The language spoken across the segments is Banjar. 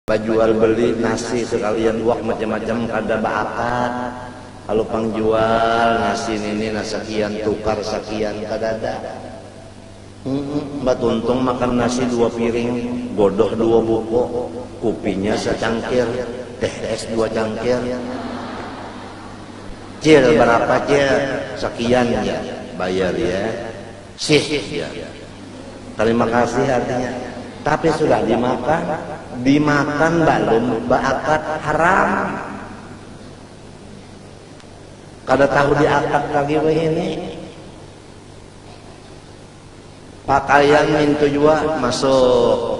Bajual beli nasi sekalian buak macam-macam kada baakat, kalu pang jual nasi nini nah sakian tukar sakian kadada. Humm batuntung makan nasi dua piring, godoh dua buko, kupinya sacangkir, teh es dua cangkir. Cil, barapa cil, sakian ja, bayar ya. Syih, jar. Tarima kasih artinya. Tapi sudah dimakan? Dimakan balum baakad haram. Kada tahu diakad lagi wahini. Pakaian nintu jua masuk.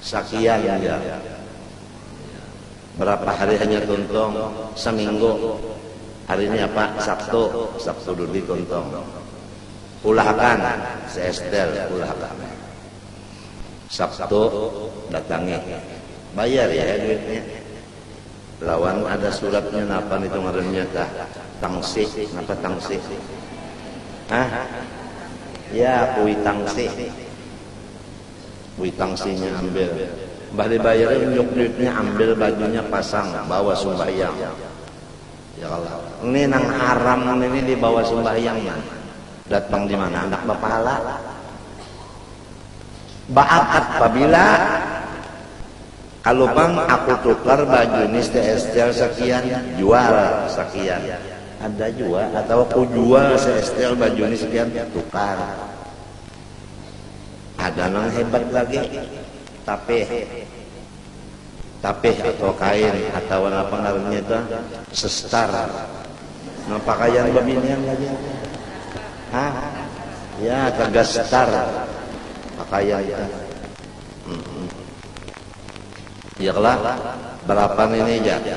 Sakian ja. Berapa hari hanyar tuntung? Seminggu. Hari ni apa? Sabtu. Sabtu dudi tuntung. Ulah akan? Seestel ulah akan. Sabtu datangi. Bayar ya duit nya. Lawan ada surat nya napa nitu ngaran nya tah? Tangsi. Napa tangsi? Hah? Ya, kuitangsi. Wih tangsinya ambil. Mbah dibayari unjuk duitnya ambil bajunya pasang bawa sumbahyang. Ya Allah. Ini nang haram ini dibawa sumbahyang nah. Dat pang dimana handak bapahala. Baakad pabila kalu pang aku tukar baju ini seestel sekian jual sekian. Ada jua atau kujual seestel baju ini sekian tukar. Ada nang hebat lagi, tapih. Tapih atau kain atawa napa ngarannya itu ah, sestar. Nang pakaian babinian lagi. Ha? Ya, taga star. Pakaian itu. Hmm. Ya kelah, berapan ini aja.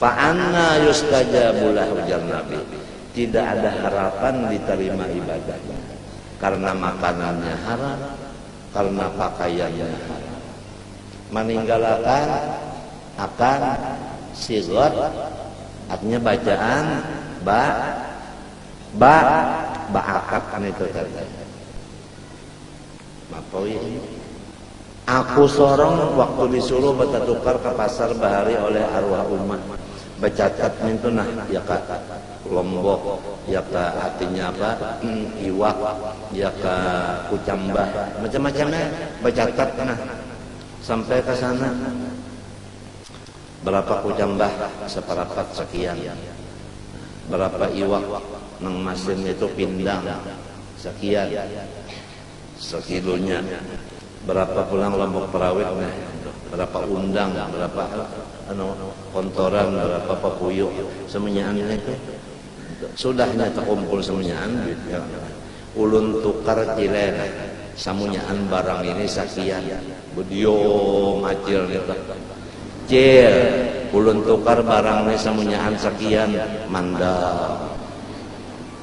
Fa anna yustajabu lah ujar Nabi, tidak ada harapan diterima ibadahnya, karena makanannya haram, karena pakaiannya haram. Maninggalakan akan sighot artinya bacaan ba ba baakad nitu tadi. Mapoi ini. Aku sorong waktu disuruh batatukar ka pasar bahari oleh aruah uma. Bacatat nintu nah, ya ka. Lombok, ya ka artinya apa, iwak, ya ka kucambah, macam-macam ai. Bacatat nah. Sampai ka sana. Barapa kucambah, saparapat sakian. Barapa iwak nang masin itu pindang, sakian. Sakilunya. Berapa pulang lombok perawit nih. Berapa undang, berapa anu kontoran, berapa papuyu. Semunyaan nih tu. Sudahnya tekumpul semunyaan duitnya. Ulun tukar cile nah. Samunyaan barang ini sakian. Bedio macil nih tu. Cil, ulun tukar barang nih samunyaan sakian. Mandam.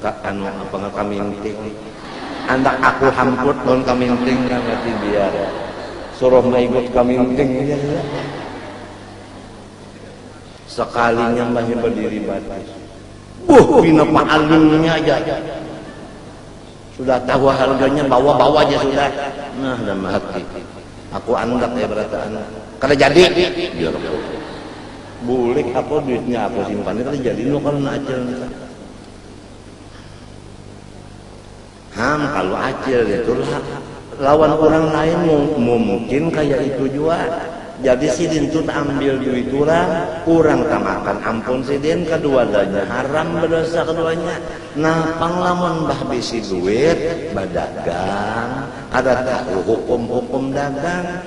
Ka anu apa nga kaminting. Andak aku hamput lawan kaminting nga ngati biar. Suruh maigut kaminting aja iya. Sakalinya mbahnya badiri batis. Buh pina paalingnya aja. Sudah tahu harganya bawa bawa aja sudah. Nah dalam hati. Aku andak ya barataan. Kada jadi jar aku. Bulik aku duitnya aku simpan kada jadi nukar na acil nih. Ham, kalau acil itulah lawan orang lain mungkin kayak itu jua. Jadi sidin tuh ambil duit orang, orang tamakan ampun sidin, keduadanya haram berdosa keduanya. Napang lamun bah bisi duit, badagang, kada tahu hukum-hukum dagang.